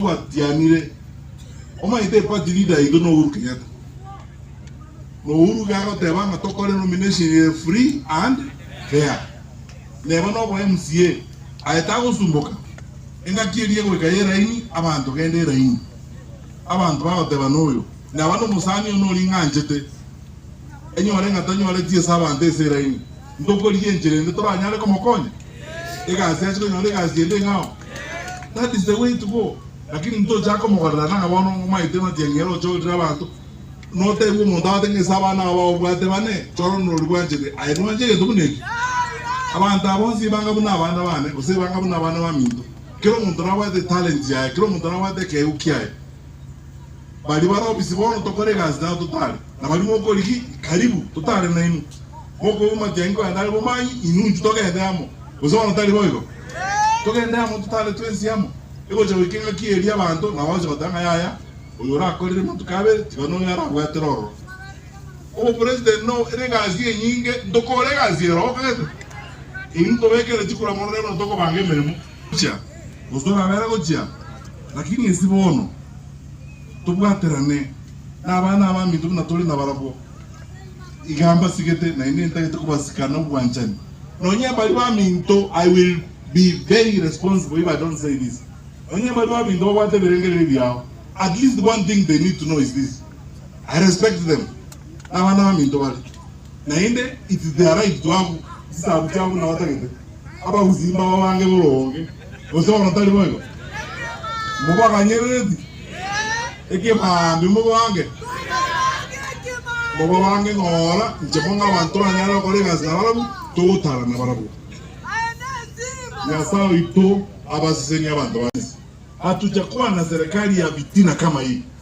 Batianire, Omanyete epati leader yaito no Uhuru Kenyatta. No Uhuru iga agoteba ng'a tokore nomination ere free and fair. Neba nobo MCA aye tagosumboka, engaki eria egoika y'eraini abanto gende eraini. Abanto bagoteba noyo naba nomosani oyo noring'anchete enyore ng'a tanyoreti ase abanto ase eraini. Ntokorige enchera ende toranyare komokonya egasi ache konyora egasi ende eng'ao. That is the way to go. Lakini ntochaka komogorera ng'a bono omaete ng'aki engiya roche orire abanto notebiwe omonto agote ng'a ase abana aba obwate bane chore onde oria obwanchete aye nwanche egento buna eki. Abanto aba bonsi ebanga buna abana bane gose ebanga buna abana baminto. Kera omonto nabwate talent yaye, kera omonto nabwate ekeegwa kiaye. Baria bare obisi bono tokore egasi taba totare nabaria mokorigia karibu totare nainwe mokoigwa amakia inko yane are bomanyi inunju togende amo gose bono tari boigo togende amo totare twensi amo egocha goika engaki eria abanto nabo bagocha goteba ng'a yaya oyo orakorire amatuko abere tiga noyo arabwatere ororo obopresident no ere egasi enyinge ntokore egasi ero okagete intobekere chikura mono rero bono tokobanga emeremo. Gochia, gose torabera gochia, lakini esi bono tobwaterane nabana abaminto buna tore nabarabwo. Iga mbasigete, naende ntagete kobasika nobwanchani, nonya baria baminto, I will be very irresponsible if I don't say this, nonya baria baminto babwate ebirengererio biao, at least one thing they need to know is this, I respect them, nabana abaminto bare, naende it's their right to have chisabu chiabo buna batagete. abagusii mbababange boronge, gose bono tari boigo? Mobaganyerereti ekebaambe mobaange? Mobabaange ng'ora nchemo ng'a abanto banyare gokora egasi na barabwo, togotara na barabwo. Nyasae oito abasesenie abanto ba Misiri. Hatuja kwana serikali ya vitina kama ii.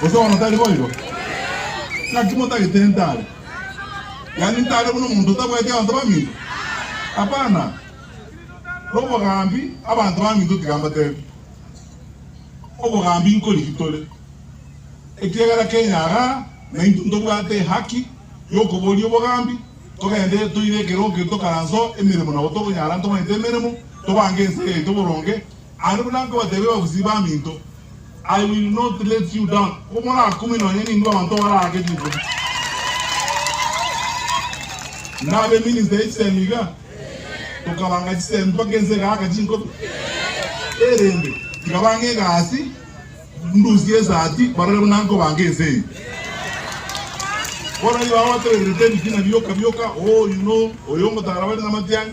Gose bono tari boigo? Naki motagete ntare? Yaani ntare buna omonto otabwati abanto baminto? Hapana! Nobogambi abanto baminto tiga mbatebi, obogambi nkoriki tore, ekiagera kenyaga naintwe ntobwate ehaki yokoboria obogambi, togende toire ekero keria tokaranso emeremo nabo tokonyara ntomanyete emeremo, tobange ense yaito boronge, Aye buna nkabateebia babusiri baminto, I will not let you down, komorakumie nonya nintwe abanto abaraake chinkumi. Nabe minister ye chisemi iga, tokabanga chisemi mpaka ense egaaka chinkumi. Erinde tiga bang'e egasi, ndusie esati, barore buna nkobanga ense eye. Bono igo agotebererete ebitina bioka bioka, oh, you know, oyo ngotara bare namatianyi.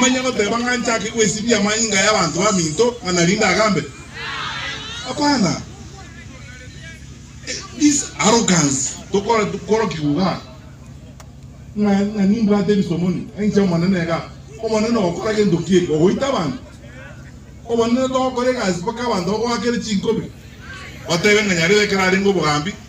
Manya goteba ng'a nchake gwesibia amanyinga y'abanto baminto ng'a narinde agambe? Hapana. This arrogance tokorokigwa iga ng'a ng'a nimbwate ebisomoni enche Omonene iga. Omonene ogokora gento ki eke? Ogoita abanto? Omonene togokora egasi mpaka abanto bagoakere chinkobi, batebe ng'a nyarebe ekero arenge obogambi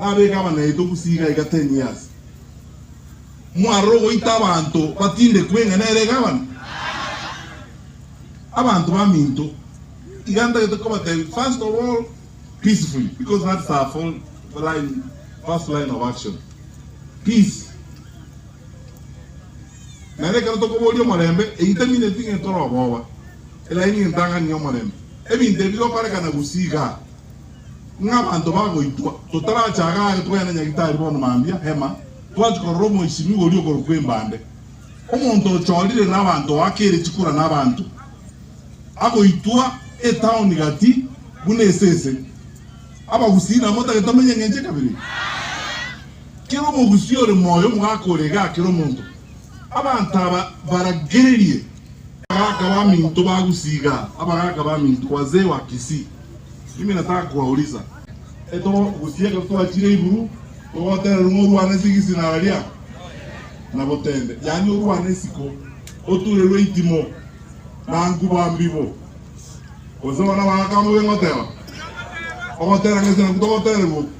Nabeke abanaito gusii iga iga ten years. Mwarora ogoita abanto batindekwe ng'a nere egabana? Abanto baminto iga ntagete kobatebia first of all peacefully because that's our fol line first line of action peace naende ekero tokoboria omorembe eitamineti ng'a etore oboba elaini entang'ani y'omorembe ebinto ebi bigokorekana gusii igaa. Ng'a abanto bagoitwa, totarache agare togende na Nyagitari bono mambia, Hema, twanche korora omoisimigwa oria okorokwa Embande, omonto ochorire nabanto oakeire chikura nabanto, agoitwa etaoni gati buna esese. Abagusii namotagete amenye engencho ekabere. Kera omogusii ore moyo omogaka ore iga akere omonto. Abanto aba baragererie. Abagaka baminto bagusii iga, abagaka baminto, wazee wa Kisii. Ime nataka kobaulisa, etoro gusii ekero twachire iguru togotererwa ng'a orwane ase egesinara gia Nabotende, yaani orwane isiko, oturerwe eitimo na nkuba mbibo. Gose bana baga kama obe ngoteba, ogotera ng'a ase naku togotererwa oku.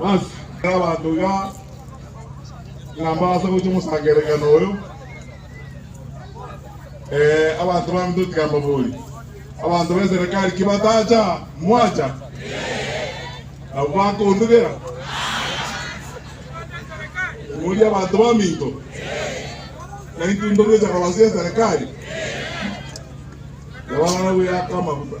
Basi, ekero abanto iga ng'a mbaase gochia omosango erekano oyo, ee, abanto bamito tikambaboria, Abanto b'eserekari ki batacha? Mwacha? Nabo bakondugera, Omoria abanto baminto, na intwe intwe gocha kobasia eserekari? Yabarara buya aka amaguta.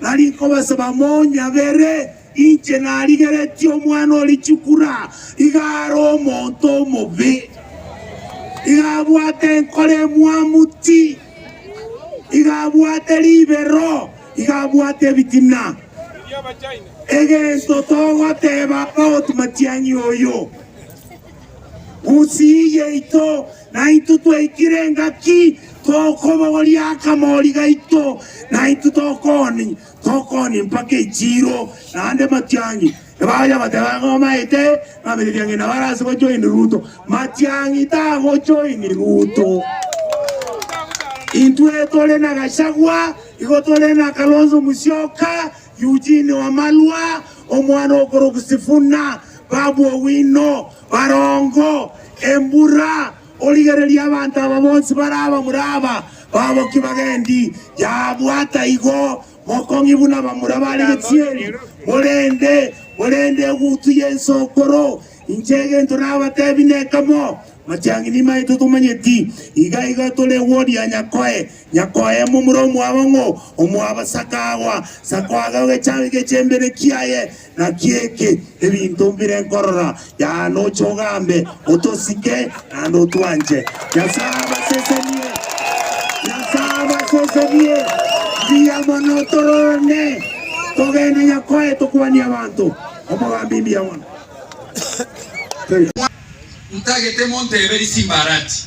Nari nkobasaba monyabere, inche narigeretie omwana o richukura, iga are omonto omobe, iga abwate enkoro emwamu ti, iga abwate ribero, iga abwate ebitina. Egento togoteba Abbot Matiang'i oyo, Gusii yaito Naintwe twaikire engaki tokobogoria akamori gaito, naintwe tokoni, tokoni mpaka echiiro, naende matiang'i. Ebacha bateba ng'a omaete, ng'a matiang'i nabo arase gojoini Ruto. Matiang'i tagojoini Ruto. Intwe tore na Gachagua, igo tore na Kalonzo Musyoka, Eugene Wamalwa, omwana okoroku Sifuna, Babu Owino, Barongo, Embura, origereria abanto aba bonsi bare abamura aba baboki bagendi yabwata igo mokong'i buna abamura bare gechieri, morende morende egutu y'ense okoro inche egento nabatebi nekemo, Amachang'ini maito tomanyeti, iga iga tore eworia Nyakoe Nyakoye momura omwabo ng'o omwabo sakagwa sakoaga ogechami gechembene kiaye naki eke ebinto mbire nkorora yaani oche ogambe otosike naende otwanche Nyasaye abasesenie Nyasaye abasesenie mbuya mono tororane togende Nyakoye tokwanie abanto omogambi mbuya mono Thank you. Ntagete monteberi simbarati.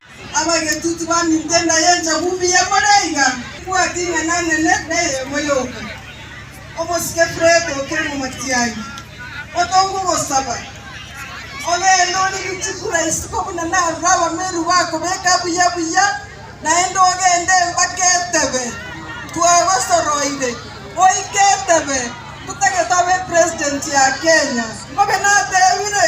Abagetuti baminto enda y'enchagu mbuya more iga, mwating'ana nene neyemo yoka. Omosike Fileto okere momati aye, otonge ogosaba, ogeende origie chifura isiko buna narure abameru bakobeka buya buya, naende ogeende mpaka etebe twagosoroire, oike etebe totagete abe president ya Kenya. Ngobe natebire.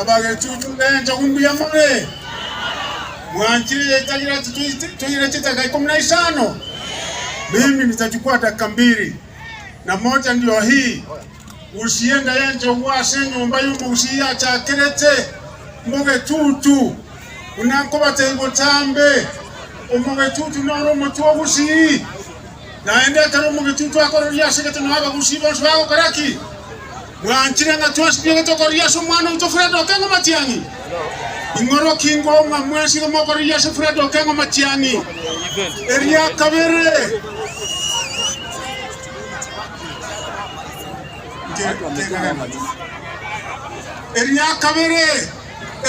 Abagechuchu b'enchogu mbuya more! Mwanchire yetagira ase toira chitaka ikomi na isano? Mimi nitachukua dakika mbiri, na moja ndio hii, gurusia enda y'enchogu ase enyomba y'omogusii yachakerete mogechuchu. Buna nkobatebia botambe, omogechuchu nore omotwe ogusii, naende ekero omogechuchu akororia ase egete nao abagusii bonsi bagokora ki? Bwanchire ng'a twasinyore tokorigia ase omwana oito Fred Okengo Matiang'i? Ing'oroki ingo ng'a mwesire mokorigia ase Fred Okengo Matiang'i? Eria kabere, eria kabere,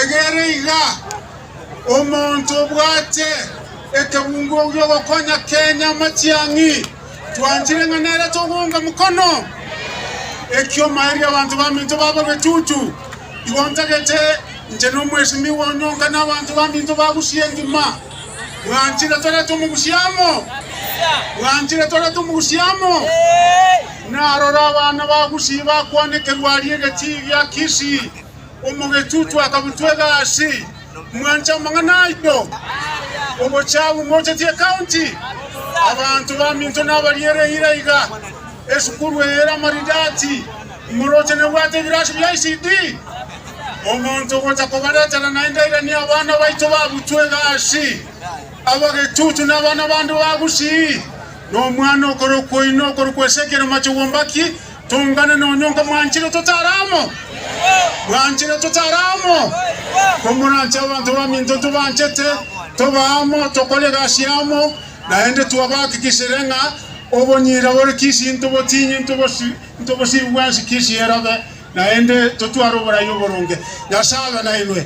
egere iga, omonto obwate ekebungo gi'ogokonya Kenya Matiang'i. Twanchire ng'a nere togounga mokono eki'omoerio abanto baminto baba betutu. Igo ntagete inche nomwesimigwa one onka nabanto baminto bagusie engima. Mwanchire torete omogusia amo? Mwanchire torete omogusia amo? Narora abana bagusie bakwanekerwa aria egetii gia Kisii, Omogechuchu akamotwega aase, Mwanche amang'ana aito? Ogochia agwo mochatie ecounty? Abanto baminto nabariere eira iga. Esukuru eye ere amaridadi. Omoroche nebwate ebirasi bia ECD. Omonto ogocha kobaretera naende airanie abana baito babutwega aase. Abagechuchu na abana bande ba gusii. Nomwana okorokwa oino okorokwa Ezekiel Machogumbaki Toungane nonya onga mwanchire totare amo? Mwanchire totare amo? Komoranche abanto baminto tobanchete, toba amo, tokore egasi amo, naende twabahakikishire ng'a obonyira bore kisii ntobotinyi, ntobosiri bwensi kisii erobe, naende totware oboraia oboronge. Nyasae abe nainwe.